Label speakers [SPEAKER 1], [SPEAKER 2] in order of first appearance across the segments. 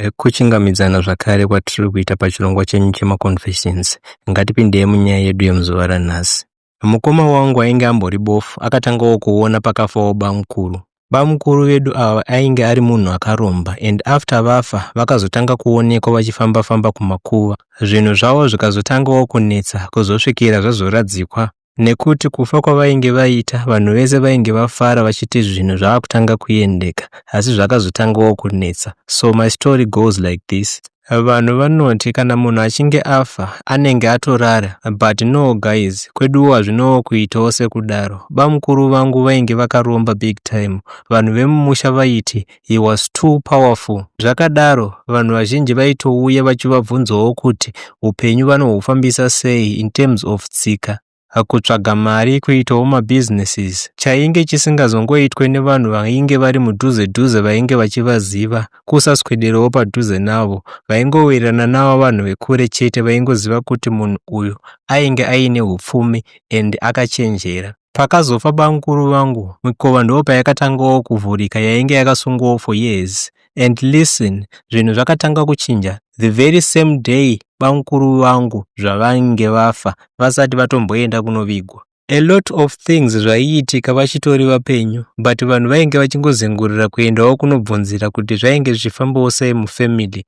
[SPEAKER 1] Eh, kuchingamidzana zvakare kwatiri kuita pachirongwa chenyu chemaconfessions ngatipindei munyaya yedu yemuzuva ranhasi mukoma wangu ainge ambori bofu akatangawo kuona pakafawo bamukuru bamukuru vedu ava ainge ari munhu akaromba and after vafa vakazotanga kuonekwa vachifamba-famba kumakuva zvinhu zvavo zvikazotangawo kunetsa kuzosvikira zvazoradzikwa nekuti kufa kwavainge vaita vanhu vese vainge vafara vachiti zvinhu zvava kutanga kuendeka asi zvakazotangawo kunetsa so my story goes like this vanhu vanoti kana munhu achinge afa anenge atorara but no guys kweduwo hazvinowo kuitawo sekudaro bamukuru vangu vainge vakaromba big time vanhu vemumusha vaiti he was too powerful. Zvakadaro, vanhu vazhinji vaitouya vachivabvunzawo kuti upenyu vanohufambisa sei in terms of tsika kutsvaga mari kuitawo mabusinesses chainge chisingazongoitwe nevanhu vainge vari mudhuze dhuze vainge vachivaziva kusaswederewo padhuze navo vaingowirirana navo vanhu vekure chete vaingoziva kuti munhu uyu ainge aine upfumi and akachenjera Pakazofa bamkuru vangu mikova ndopayakatangawo kuvhurika yainge yakasungawo for years and listen zvinhu zvakatanga kuchinja the very same day bamkuru vangu zvavange vafa vasati vatomboenda kunovigwa. A lot of things zvaiitika vachitori vapenyu but vanhu vainge vachingozengurira kuendawo kunobvunzira kuti zvainge zvichifambawo sei mufamily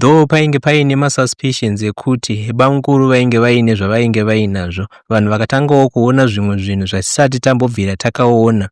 [SPEAKER 1] Though painge paine masuspicions ekuti bamukuru vainge vaine zvavainge vainazvo, vanhu vakatangawo kuona zvimwe zvinhu zvatisati tambobvira takaona.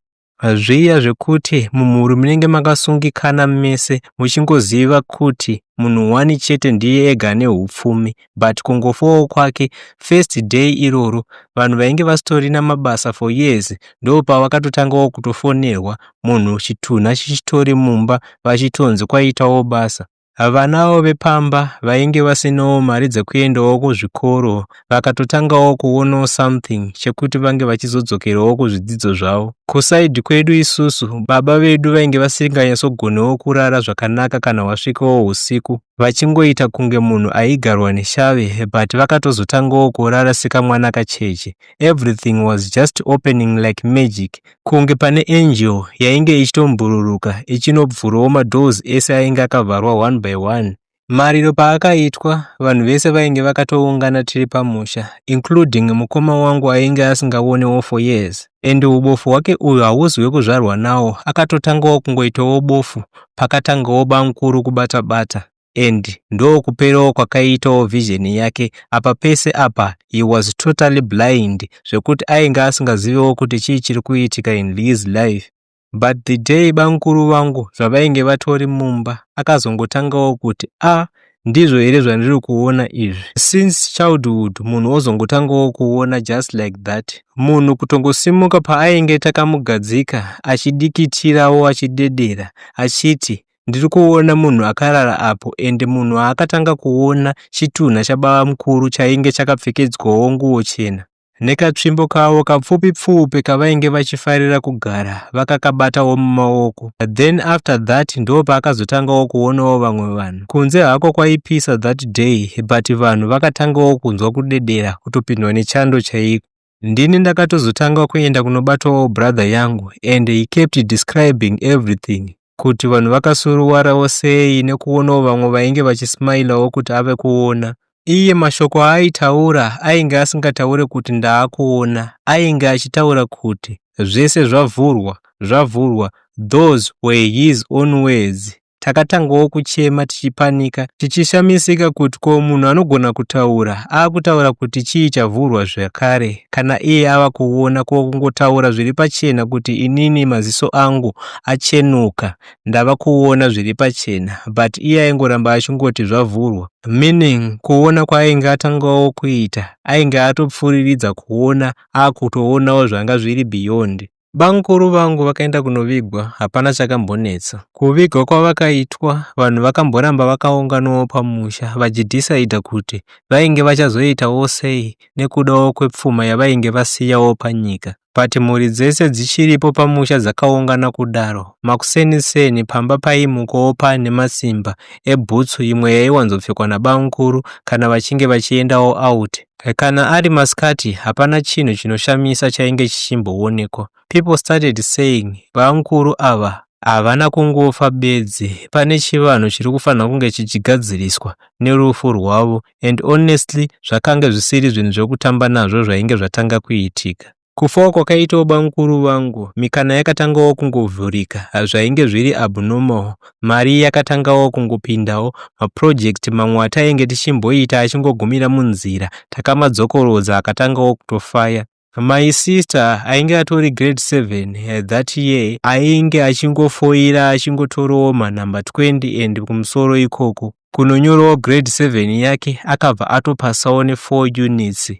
[SPEAKER 1] Zviya zvekuti mumhuri munenge makasungikana mese muchingoziva kuti munhu one chete ndiye ega ane upfumi, but kungofowo kwake first day iroro vanhu vainge vasitorina mabasa for years ndopavakatotangawo kutofonerwa munhu chitunha chichitori mumba vachitonzi kwaitawo basa Vanawo vepamba vainge vasinawo mari dzekuendawo kuzvikoro vakatotangawo kuonawo something chekuti vange vachizodzokerawo kuzvidzidzo zvavo. Kusaidhi kwedu isusu, baba vedu vainge vasinganyatsogonewo kurara zvakanaka kana hwasvikawo usiku. vachingoita kunge munhu aigarwa neshave but vakatozotangawo kurara sekamwana kacheche everything was just opening like magic kunge pane angel yainge ichitombhururuka ichinobvurawo madoors ese ainge akavharwa one by one mariro paakaitwa vanhu vese vainge vakatoungana tiri pamusha including mukoma wangu ainge asingaonewo for years and ubofu hwake uyu hauzi wekuzvarwa nawo akatotangawo kungoitawo bofu pakatangawo bamukuru kubata bata and ndokuperawo kwakaiitawo vision yake apa pese apa he was totally blind zvekuti ainge asingazivewo kuti chii chiri kuitika in his life but the day bamkuru vangu zvavainge vatori mumba akazongotangawo kuti a ah, ndizvo here zvandiri kuona izvi since childhood munhu ozongotangawo kuona just like that munhu kutongosimuka paainge takamugadzika achidikitirawo achidedera achiti ndiri kuona munhu akarara apo ende munhu aakatanga kuona chitunha chababa mukuru chainge chakapfekedzwawo nguo chena Nekatsvimbo kavo kapfupi pfupi kavainge vachifarira kugara vakakabatawo mumaoko. Then after that ndo paakazotangawo kuonawo vamwe vanhu. Kunze hako kwaipisa that day but vanhu vakatangawo kunzwa kudedera kutopindwa nechando chaiko. Ndini ndakatozotanga kuenda kunobatwawo brother yangu and he kept describing everything kuti vanhu vakasuruwarawo sei nekuonawo vamwe vainge vachismailawo kuti ave kuona. Iye mashoko aaitaura ainge asingataure kuti ndaakuona, ainge achitaura kuti zvese zvavhurwa, zvavhurwa, those were his own words. Takatangawo kuchema tichipanika, tichishamisika kuti ko munhu anogona kutaura aakutaura kuti chii chavhurwa zvakare kana iye ava kuona ko kungotaura zviri pachena kuti inini maziso angu achenuka ndava kuona zviri pachena but iye aingoramba achingoti zvavhurwa meaning kuona kwaainge atangawo kuita ainge atopfuriridza kuona akutoonawo zvanga zviri beyond Bamkuru vangu vakaenda kunovigwa hapana chakambonetsa. Kuvigwa kwavakaitwa vanhu vakamboramba vakaunganawo pamusha vachidhisaidha kuti vainge vachazoitawo sei nekudawo kwepfuma yavainge vasiyawo panyika. but mhuri dzese dzichiripo pamusha dzakaungana kudaro. Makuseni seni pamba paimukawo pane masimba ebhutsu imwe yaiwanzopfekwa nabamukuru kana vachinge vachiendawo out. Kana ari masikati hapana chinhu chinoshamisa chainge chichimboonekwa. People started saying bamukuru ava havana kungofa bedzi, pane chivanhu chiri kufanira kunge chichigadziriswa nerufu rwavo and honestly zvakange zvisiri zvinhu zvekutamba nazvo zvainge zvatanga kuitika. Kufawo kwakaitawo bamukuru vangu, mikana yakatangawo kungovhurika, hazvainge zviri abnormal, mari yakatangawo kungopindawo, maproject mamwe atainge tichimboita achingogumira munzira, takamadzokorodza akatangawo kutofaya. My sister ainge atori grade 7 eh, that year ainge achingofoira achingotorowo manumber 20 and kumusoro ikoko kunonyorawo grade 7 yake akabva atopasawo ne4 units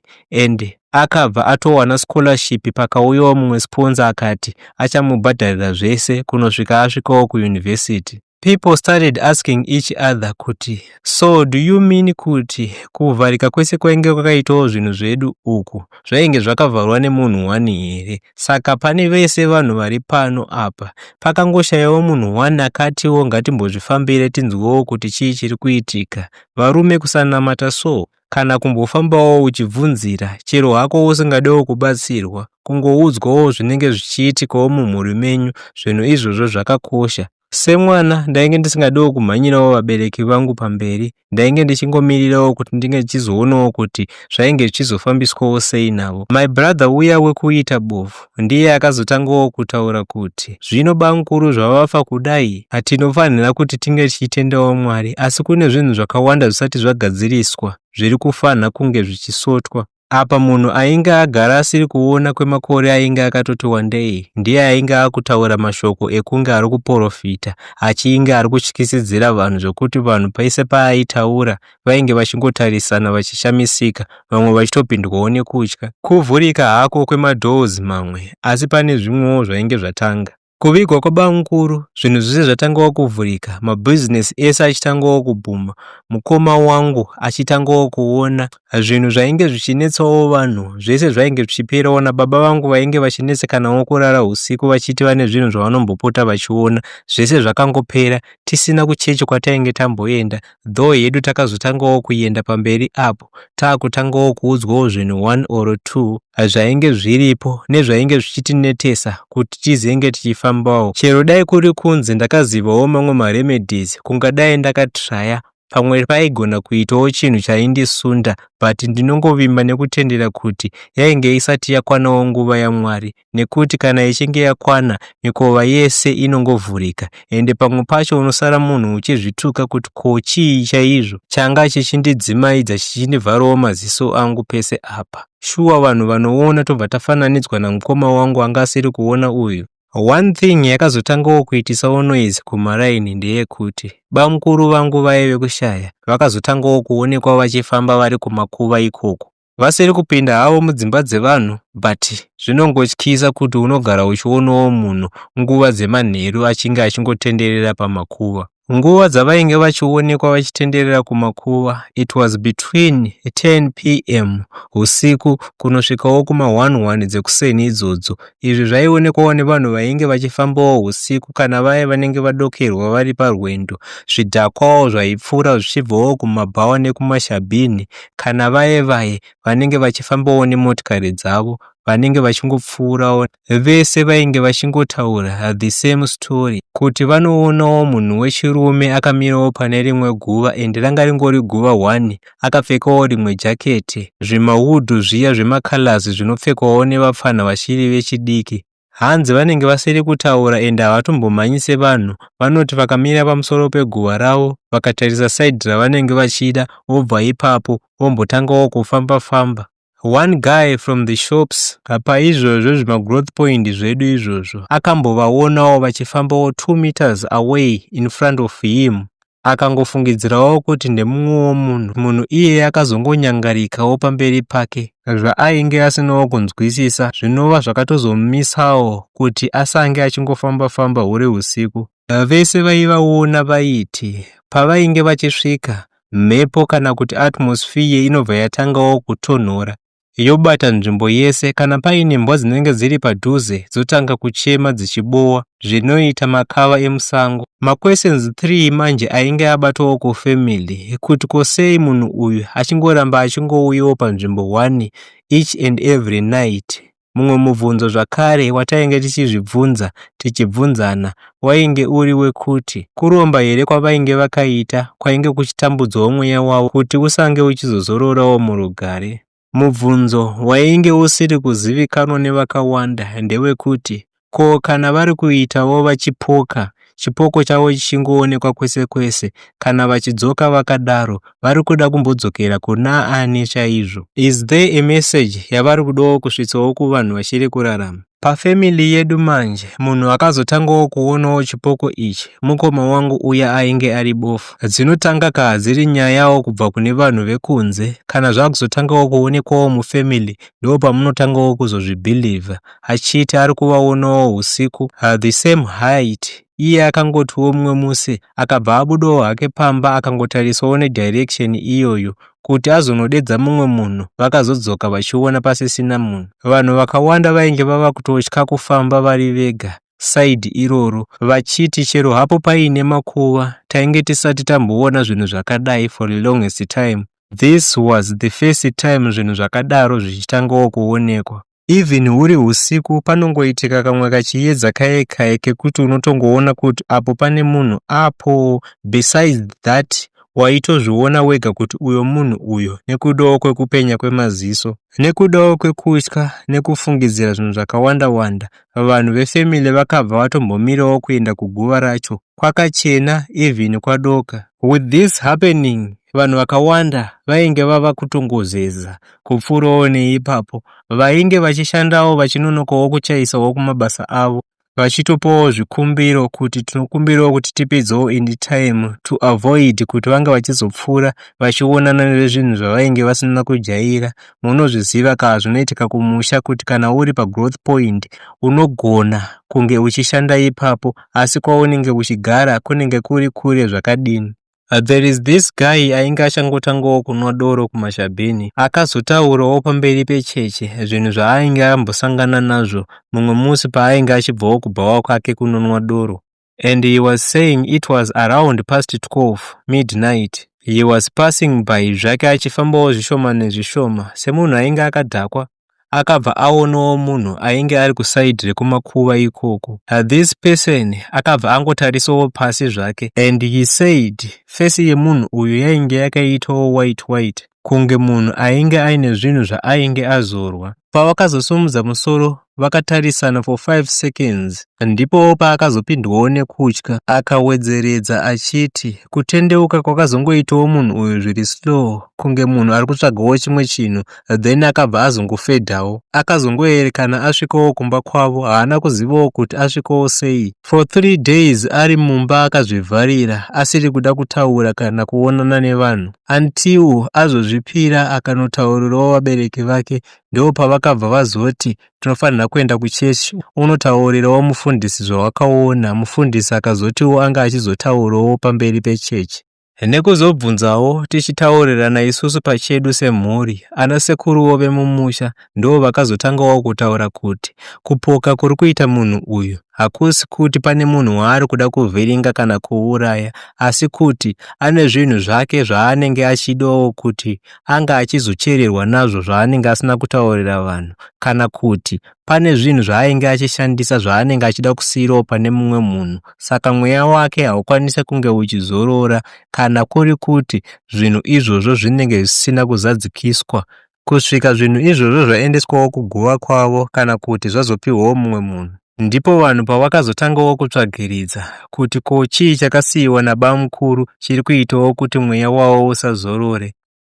[SPEAKER 1] and akabva atowana scholarship pakauyawo mumwe sponza akati achamubhadharira zvese kunosvika asvikawo kuuniversity People started asking each other kuti so do you mean kuti kuvharika kwese kwainge kwakaitawo zvinhu zvedu uku zvainge zvakavharwa nemunhu one here? Saka pane vese vanhu vari pano apa pakangoshayawo munhu one akatiwo ngatimbozvifambire tinzwewo kuti chii chiri kuitika. Varume kusanamata so kana kumbofambawo uchibvunzira chero hako usingadewo kubatsirwa kungoudzwawo zvinenge zvichiitikawo mumhuri menyu zvinhu izvozvo zvakakosha Semwana ndainge ndisingadiwo kumhanyirawo vabereki vangu pamberi, ndainge ndichingomirirawo kuti ndinge ndichizoonawo kuti zvainge zvichizofambiswawo sei navo. My brother uya wekuita bofu ndiye akazotangawo kutaura kuti, zvino bamkuru zvavafa kudai, tinofanira kuti tinge tichitendawo Mwari, asi kune zvinhu zvakawanda zvisati zvagadziriswa zviri kufanha kunge zvichisotwa. Apa munhu ainge agara asiri kuona kwemakore ainge akatoti wandei ndiye ainge akutaura mashoko ekunge ari kuporofita achiinge ari kutyisidzira vanhu zvokuti vanhu paise paaitaura vainge vachingotarisana vachishamisika vamwe vachitopindwawo nekutya kuvhurika hako kwemadoors mamwe asi pane zvimwewo zvainge zvatanga Kuvigwa kwabamukuru zvinhu zvese zvatangawo kuvhurika, mabhizinesi ese achitangawo kubhuma, mukoma wangu achitangawo kuona zvinhu zvainge zvichinetsawo vanhu zvese zvainge zvichiperawo nababa vangu vainge vachinetsekanawo kurara usiku vachiti vane zvinhu zvavanombopota vachiona zvese zvakangopera tisina kuchechi kwatainge tamboenda though hedu takazotangawo kuenda pamberi apo taakutangawo kuudzwawo zvinhu one or two zvainge zviripo nezvainge zvichitinetesa kuti tizenge tichifambawo chero dai kuri kunzi ndakazivawo mamwe maremedies kungadai ndakatraya pamwe paigona kuitawo chinhu chaindisunda but ndinongovimba nekutendera kuti yainge isati yakwanawo nguva yamwari nekuti kana ichinge yakwana mikova yese inongovhurika ende pamwe pacho unosara munhu uchizvituka kuti ko chii chaizvo changa chichindidzimaidza chichindivharawo maziso angu pese apa shuwa vanhu vanoona tobva tafananidzwa namukoma wangu anga asiri kuona uyu one thing yakazotangawo kuitisawo noise kumaraini ndeyekuti bamukuru vangu vaive kushaya vakazotangawo kuonekwa vachifamba vari kumakuva ikoko vasiri kupinda havo mudzimba dzevanhu but zvinongotyisa kuti unogara uchionawo munhu nguva dzemanheru achinge achingotenderera pamakuva nguva dzavainge vachionekwa vachitenderera kumakuva it was between 10 pm usiku kunosvikawo kuma 11 dzekuseni idzodzo izvi zvaionekwawo nevanhu vainge vachifambawo usiku kana vaye vanenge vadokerwa vari parwendo zvidhakwawo zvaipfuura zvichibvawo kumabhawa nekumashabhini kana vaye vaye vanenge vachifambawo nemotikari dzavo vanenge vachingopfuurawo vese vainge vachingotaura the same story kuti vanoonawo munhu wechirume akamirawo pane rimwe guva and ranga ringori guva one akapfekawo rimwe jaketi zvimawudhu zviya zvemacolors zvinopfekwawo nevapfanha vachiri vechidiki Hanzi vanenge vasiri kutaura ende havatombomhanyise vanhu vanoti vakamira pamusoro peguva ravo vakatarisa side ravanenge vachida vobva ipapo vombotangawo kufamba famba. One guy from the shops apa izvozvo zvimagrowth point zvedu izvozvo akambovaonawo vachifambawo 2 meters away in front of him akangofungidzirawo kuti ndemumwewo munhu munhu iyeye akazongonyangarikawo pamberi pake zvaainge asinawo kunzwisisa zvinova zvakatozomumisawo kuti asange achingofamba-famba huri usiku vese vaivaona vaiti pavainge vachisvika mhepo kana kuti atmosphere inobva yatangawo kutonhora yobata nzvimbo yese kana paine mbwa dzinenge dziri padhuze dzotanga kuchema dzichibowa zvinoita makava emusango maquestions 3 manje ainge abatawo ko family kuti ko sei munhu uyu achingoramba achingouyawo panzvimbo 1 each and every night mumwe mubvunzo zvakare watainge tichizvibvunza tichibvunzana wainge uri wekuti kuromba here kwavainge vakaita kwainge kuchitambudzawo mweya wavo kuti usange uchizozororawo murugare. Mubvunzo wainge usiri kuzivikanwa nevakawanda ndewekuti ko kana vari kuitawo vachipoka chipoko chavo chichingoonekwa kwese kwese kana vachidzoka vakadaro vari kuda kumbodzokera kuna ani chaizvo is there a message yavari kudawo kusvitsawo kuvanhu vachiri kurarama Pafamily yedu manje munhu akazotangawo kuonawo chipoko ichi mukoma wangu uya ainge ari bofu. Dzinotanga kaa dziri nyayawo kubva kune vanhu vekunze kana zvakuzotangawo kuonekwawo mufamily ndo pamunotangawo kuzozvibelieve achiti ari kuvaonawo husiku uh, the same height iye akangotiwo mumwe musi akabva abudawo hake pamba akangotarisawo nedirection iyoyo kuti azonodedza mumwe munhu vakazodzoka vachiona pasisina munhu vanhu vakawanda vainge vava kutotya kufamba vari vega side iroro vachiti chero hapo paine makuva tainge tisati tamboona zvinhu zvakadai for the longest time this was the first time zvinhu zvakadaro zvichitangawo kuonekwa even huri husiku panongoitika kamwe kachiyedza kaye kaye kekuti unotongoona kuti apo pane munhu apo besides that waitozviona wega kuti uyo munhu uyo nekudawo kwekupenya kwemaziso nekudawo kwekutya nekufungidzira zvinhu zvakawanda wanda vanhu vefamily vakabva vatombomirawo kuenda kuguva racho kwakachena even kwadoka with this happening vanhu vakawanda vainge vava kutongozeza kupfuurawo neipapo. Vainge vachishandawo vachinonokawo kuchaisawo kumabasa avo vachitopawo zvikumbiro kuti tinokumbirawo kuti tipedzewo in time to avoid kuti vange vachizopfuura vachionana nezvinhu zvavainge vasina kujaira munozviziva ka zvinoitika kumusha kuti kana uri pagrowth point unogona kunge uchishanda ipapo asi kwaunenge uchigara kunenge kuri kure zvakadini Uh, there is this guy ainge achangotangawo kunwa doro kumashabhini akazotaurawo pamberi pecheche zvinhu zvaainge ambosangana nazvo mumwe musi paainge achibvawo kubhawa kwake kunonwa doro and he was saying it was around past 12 midnight he was passing by zvake achifambawo zvishoma nezvishoma semunhu ainge akadhakwa akabva aonawo munhu ainge ari kusaidi rekumakuva ikoko uh, this person akabva angotarisawo pasi zvake and he said fesi yemunhu uyu yainge yakaitawo white white kunge munhu ainge aine zvinhu zvaainge azorwa pavakazosumudza musoro vakatarisana for 5 seconds ndipo paakazopindwawo nekutya akawedzeredza achiti kutendeuka kwakazongoitawo munhu uyu zviri slow kunge munhu ari kutsvagawo chimwe chinhu then akabva azongofedhawo akazongoerekana asvikowo kumba kwavo haana kuzivawo kuti asvikowo sei for three days ari mumba akazvivharira asiri kuda kutaura kana kuonana nevanhu until azozvipira akanotaurirawo vabereki vake ndo pavakabva vazoti tinofanira kuenda kuchechi unotaurirawo mufundisi zvawakaona mufundisi akazotiwo anga achizotaurawo pamberi pechechi nekuzobvunzawo tichitaurirana isusu pachedu semhuri ana sekuruwo vemumusha ndoo vakazotangawo kutaura kuti kupoka kuri kuita munhu uyu hakusi kuti pane munhu waari kuda kuvhiringa kana kuuraya asi kuti ane zvinhu zvake zvaanenge achidawo kuti anga achizochererwa nazvo zvaanenge asina kutaurira vanhu kana kuti Pane zvinhu zvaainge achishandisa zvaanenge achida kusiirawo pane mumwe munhu, saka mweya wake haukwanise kunge uchizorora kana kuri kuti zvinhu izvozvo zvinenge zvisina kuzadzikiswa kusvika zvinhu izvozvo zvaendeswawo kuguva kwavo kana kuti zvazopiwawo mumwe munhu. Ndipo vanhu pavakazotangawo kutsvagiridza kuti ko chii chakasiyiwa nabamukuru chiri kuitawo kuti mweya wavo usazorore.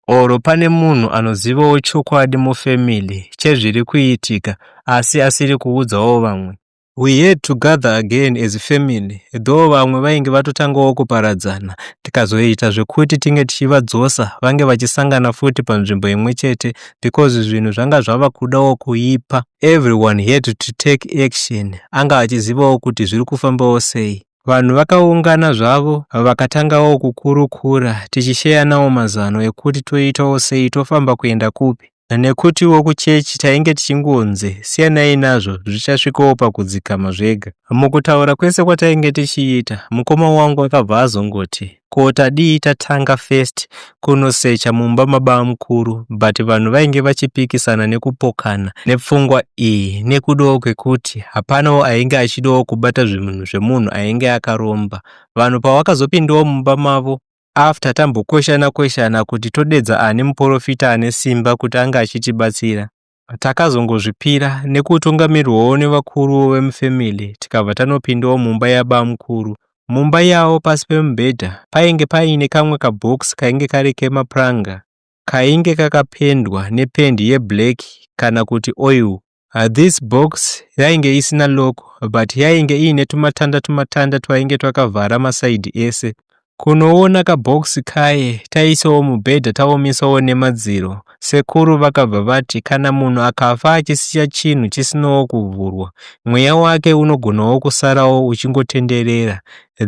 [SPEAKER 1] or pane munhu anozivawo chokwadi mufamily chezviri kuitika asi asiri kuudzawo vamwe. We had to gather again as family though vamwe vainge vatotangawo kuparadzana tikazoita zvekuti tinge tichivadzosa vange vachisangana futi panzvimbo imwe chete because zvinhu zvanga zvava kudawo kuipa. Everyone had to take action anga achizivawo kuti zviri kufambawo sei. Vanhu vakaungana zvavo vakatangawo kukurukura tichisheyanawo mazano ekuti toitawo sei tofamba kuenda kupi nekutiwo kuchechi tainge tichingonzi siyanai nazvo zvichasvikawo pakudzikama zvega. Mukutaura kwese kwatainge tichiita mukoma wangu akabva azongoti. ko tadii tatanga first kunosecha mumba mabamukuru but vanhu vainge vachipikisana nekupokana nepfungwa iyi nekudawo kwekuti hapanawo ainge achidawo kubata zvimunhu zvemunhu ainge akaromba vanhu pavakazopindawo mumba mavo after tambokweshana kweshana kuti todedza ani muporofita ane simba kuti ange achitibatsira Takazongozvipira nekutungamirwawo nevakuru vemufamily tikabva tanopindawo mumba yabamukuru. Mumba yavo pasi pemubhedha painge paine kamwe kabox kainge kari kemapuranga kainge kakapendwa nependi yeblack kana kuti oil. This box yainge isina lock but yainge iine tumatanda tumatanda twainge twakavhara maside ese. Kunoona kabox kaye taisawo mubhedha taomisawo nemadziro. Sekuru vakabva vati kana munhu akafa achisiya chinhu chisinawo kuvhurwa, mweya wake unogonawo kusarawo uchingotenderera.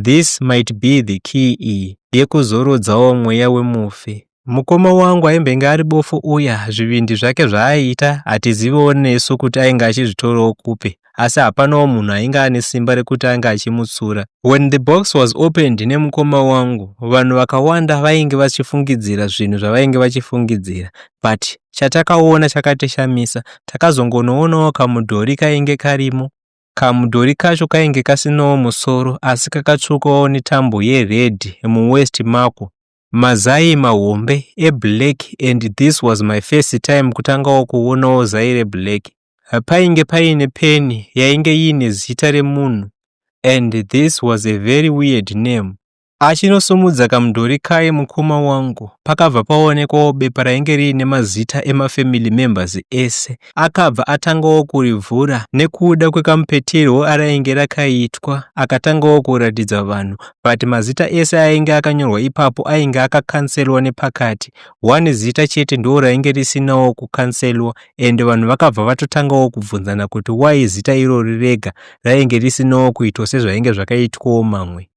[SPEAKER 1] This might be the key yekuzorodzawo mweya wemufi. Mukoma wangu aimbenge ari bofu uya, zvivindi zvake zvaaiita hatizivewo nesu kuti ainge achizvitorawo kupi, asi hapanawo munhu ainge ane simba rekuti ange achimutsura. When the box was opened nemukoma wangu, vanhu vakawanda vainge vachifungidzira zvinhu zvavainge vachifungidzira, but chatakaona chakatishamisa, takazongonoonawo kamudhori kainge karimo. Kamudhori kacho kainge kasinawo musoro asi kakatsvukawo netambo yeredhi muwest mako mazai mahombe eblack and this was my first time kutangawo kuonawo zai reblack painge paine peni yainge iine zita remunhu and this was a very weird name achinosumudza kamudhori kaye mukoma wangu pakabva paonekwawo bepa rainge riine mazita emafamily members ese Akabva atangawo kurivhura nekuda kwekamupetirwo arainge rakaitwa akatangawo kuratidza vanhu but mazita ese ainge akanyorwa ipapo ainge akakanselwa nepakati one zita chete ndo rainge risinawo kukanselwa and vanhu vakabva vatotangawo kubvunzana kuti why zita irori rega rainge risinawo kuitwa sezvainge zvakaitwawo mamwe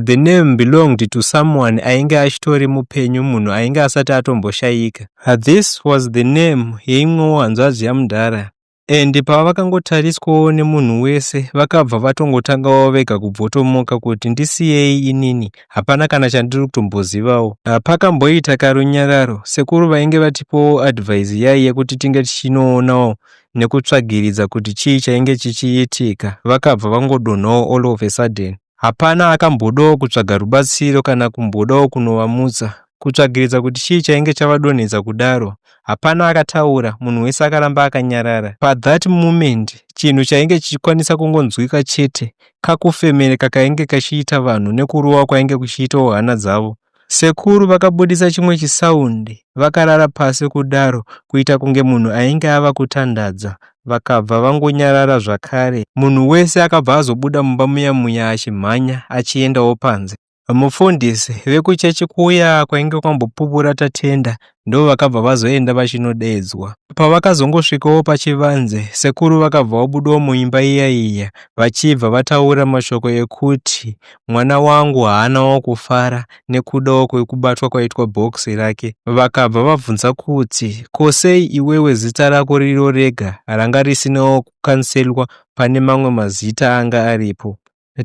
[SPEAKER 1] the name belonged to someone ainge achitori mupenyu munhu ainge asati atomboshayika Ah, this was the name yeimwewo hanzvadzi yamudhara and pavakangotariswawo nemunhu wese vakabva vatongotangawo vega kubvotomoka kuti ndisiyei inini hapana kana chandiri kutombozivawo ah, pakamboita karunyararo sekuru vainge vatipowo advise yai yekuti tinge tichinoonawo nekutsvagiridza kuti chii chainge chichiitika vakabva vangodonhawo all of a sudden Hapana akambodawo kutsvaga rubatsiro kana kumbodawo kunovamutsa, kutsvagiridza kuti chii chainge chavadonhedza kudaro. Hapana akataura, munhu wese akaramba akanyarara. Pa that moment, chinhu chainge chichikwanisa kungonzwika chete kakufemereka kainge kachiita vanhu nekurova kwainge kuchiitawo hana dzavo. Sekuru vakabudisa chimwe chisound vakarara pasi kudaro kuita kunge munhu ainge ava kutandadza vakabva vangonyarara zvakare munhu wese akabva azobuda mumba muya muya achimhanya achiendawo panze. Mufundisi vekuchechi kuya kwainge kwambopupura Tatenda ndovakabva vazoenda vachinodeedzwa. Pavakazongosvikawo pachivanze, sekuru vakabva vabudawo muimba iya iya vachibva vataura mashoko ekuti mwana wangu haanawo kufara nekudawo kwekubatwa kwaitwa bhokisi rake. Vakabva vabvunza kuti ko sei iwewe zita rako riro rega ranga risinawo kukanselwa pane mamwe mazita anga aripo.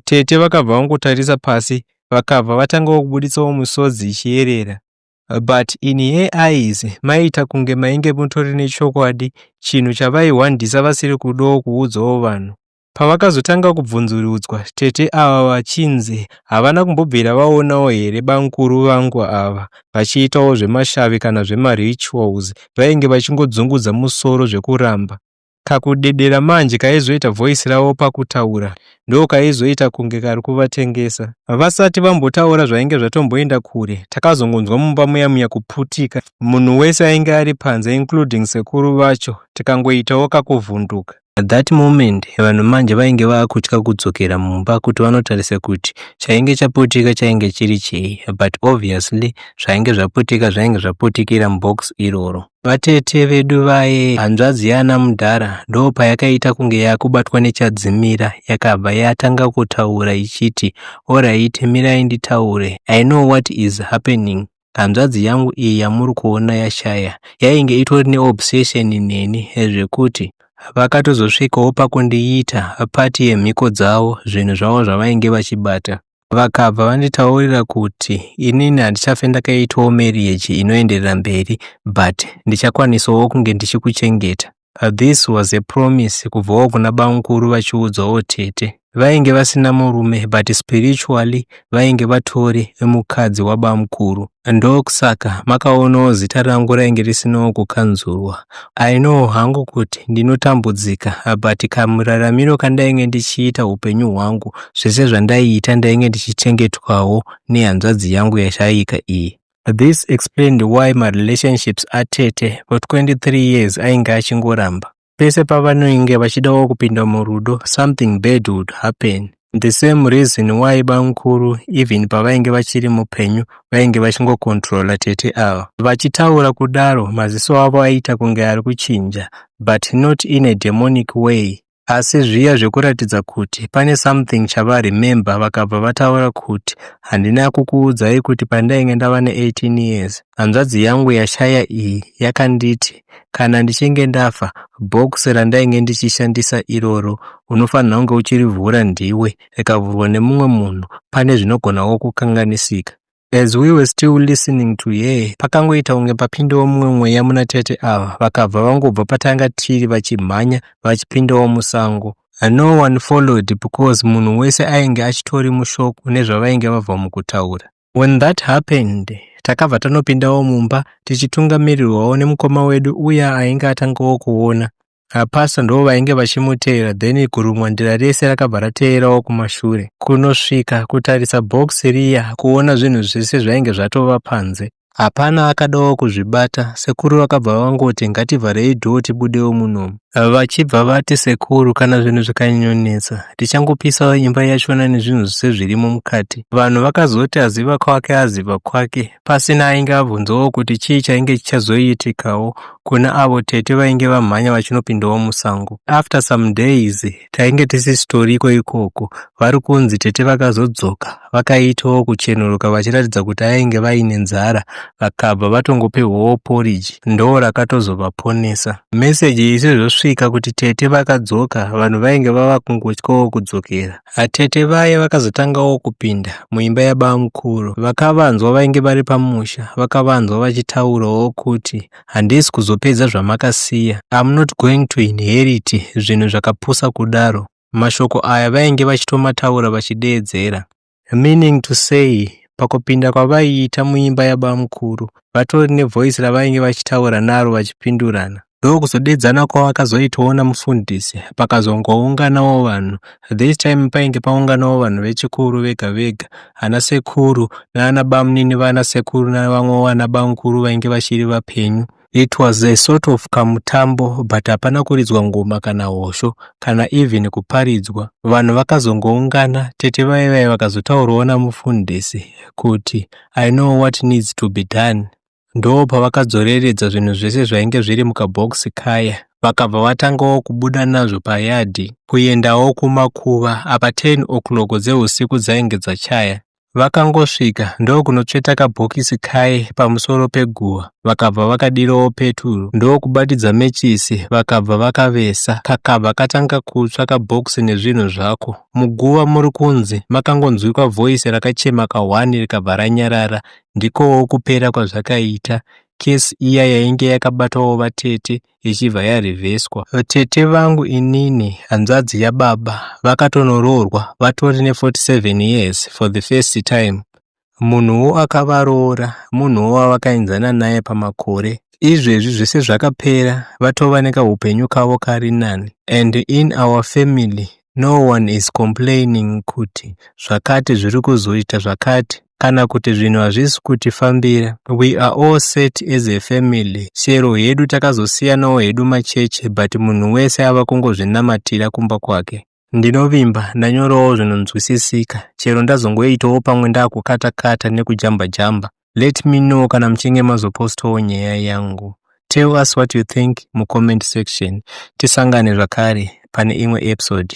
[SPEAKER 1] Tete vakabva vangotarisa pasi vakabva vatangawo kubuditsawo misodzi ichiyerera. but in her eyes maiita kunge mainge mutori nechokwadi chinhu chavaihwandisa vasiri kudawo kuudzawo vanhu. Pavakazotanga kubvunzurudzwa, tete ava vachinzi havana kumbobvira vaonawo here bamkuru vangu ava vachiitawo zvemashavi kana zvemarituals, vainge vachingodzungudza musoro zvekuramba. Kakudedera manje kaizoita voice ravo pakutaura ndokaizoita kunge kari kuvatengesa. Havasati vambotaura zvainge zvatomboenda kure, takazongonzwa mumba muya muya kuputika. Munhu wese ainge ari panze including sekuru vacho tikangoitawo kakuvhunduka. At that moment vanhu manje vainge vaakutya kudzokera mumba kuti vanotarisa kuti chainge chaputika chainge chiri chei but obviously zvainge zvaputika zvainge zvaputikira mubox iroro. Vatete vedu vaye, hanzvadzi yana mudhara ndo payakaita kunge yakubatwa nechadzimira yakabva yatanga kutaura ichiti alright mirai nditaure I know what is happening hanzvadzi yangu iyi yamuri kuona yashaya yainge itori neobsession neni zvekuti vakatozosvikawo pakundiita pati yemhiko dzavo zvinhu zvavo zvavainge vachibata vakabva vanditaurira kuti inini handichafe ndakaitwawo marriage inoenderera mberi but ndichakwanisawo kunge ndichikuchengeta this was a promise kubvawo kuna bamukuru vachiudzwawo tete vainge vasina murume but spiritually vainge vatori mukadzi wabamukuru Ndokusaka makaonawo zita rangu rainge risinawo kukanzurwa. I know hangu kuti ndinotambudzika but kamuraramiro kandainge ndichiita upenyu hwangu zvese zvandaiita ndainge ndichichengetwawo nehanzvadzi yangu yashaika iyi. This explained why marelationships atete for 23 years ainge achingoramba. Pese pavanoinge vachidawo kupinda murudo, something bad would happen. The same reason why bamukuru even pavainge vachiri mupenyu vainge vachingokontrola tete ava. Vachitaura kudaro, maziso avo aiita kunge ari kuchinja, but not in a demonic way. Asi zviya zvekuratidza kuti pane something chavaremember vakabva vataura kuti handina kukuudzai kuti pandainge ndava ne18 years Hanzvadzi yangu yashaya iyi yakanditi kana ndichinge ndafa box randainge ndichishandisa iroro unofanira kunge uchirivhura ndiwe rikavhurwa nemumwe munhu pane zvinogonawo kukanganisika As we were still listening to her, pakangoita kunge papindawo mumwe mweya muna tete ava, vakabva vangobva patanga tiri vachimhanya vachipindawo musango. No one followed because munhu wese ainge achitori mushoko nezvavainge vabva mukutaura. When that happened, takabva tanopindawo mumba tichitungamirirwawo nemukoma wedu uya ainge atangawo kuona. Apasa ndo vainge vachimuteera then kurumwa ndira rese rakabva rateerawo kumashure kunosvika kutarisa box riya kuona zvinhu zvese zvainge zvatova panze. Hapana akadawo kuzvibata, sekuru vakabva vangoti ngativharei door tibudewo munomu. Vachibva vati sekuru kana zvinhu zvikanyanyonetsa tichangopisawo imba yachona nezvinhu zvese zvirimo mukati. Vanhu vakazoti aziva kwake aziva kwake pasina ainge abvunzawo kuti chii chainge chichazoitikawo kuna avo tete vainge vamhanya vachinopindawo musango. After some days tainge tisisitoriko ikoko. Vari kunzi tete vakazodzoka vakaitawo kuchenuruka vachiratidza kuti ainge vaine nzara vakabva vatongopihwawo poriji ndo rakatozovaponesa. Meseji isi zvosvika kuti tete vakadzoka vanhu vainge vava kungotyawo kudzokera. Atete vaye vakazotangawo kupinda muimba yabamukuru vakavanzwa vainge vari pamusha vakavanzwa vachitaurawo kuti handisi kuzopedza zvamakasiya I'm not going to inherit zvinhu zvakapusa kudaro mashoko aya vainge vachitomataura vachideedzera meaning to say pakupinda kwavaiita muimba yabamukuru vatori nevoice ravainge vachitaura naro vachipindurana ndokuzodedzana kwavakazoitawo namufundisi pakazongounganawo vanhu This time painge paunganawo vanhu vechikuru vega vega, ana sekuru naana bamnini vana sekuru navamwe vana bamkuru vainge vachiri vapenyu. It was a sort of kamutambo but hapana kuridzwa ngoma kana hosho kana even kuparidzwa. Vanhu vakazongoungana, tete vaye vaye vakazotaurawo namufundisi kuti I know what needs to be done. Ndopavakadzoreredza zvinhu zvese zvainge zviri mukabhokisi kaya vakabva vatangawo kubuda nazvo payadhi kuendawo kumakuva apa 10 o'clock dzeusiku dzainge dzachaya. Vakangosvika ndokunotsveta kabhokisi kaye pamusoro peguva vakabva vakadirawo peturu ndokubatidza mechisi vakabva vakavesa kakabva katanga kutsva kabhokisi nezvinhu zvako. Muguva muri kunzi makangonzwikwa voice rakachema kahwani rikabva ranyarara Ndikowo kupera kwazvakaita. Case iya yainge yakabatwawo vatete ichibva yarevheswa. Tete vangu inini hanzvadzi yababa vakatonoroorwa vatori ne 47 years for the first time. Munhuwo akavaroora munhuwo wavakainzana naye pamakore. Izvezvi zvese zvakapera vatova nekahupenyu kavo kari nani and in our family no one is complaining kuti zvakati zviri kuzoita zvakati. kana kuti zvinhu hazvisi kutifambira we are all set as a family chero hedu takazosiyanawo hedu macheche but munhu wese ava kungozvinamatira kumba kwake ndinovimba ndanyorawo zvinonzwisisika chero ndazongoitawo pamwe ndakukatakata nekujamba jamba let me know kana muchinge mazopostawo nyaya yangu tell us what you think mucomment section tisangane zvakare pane imwe episode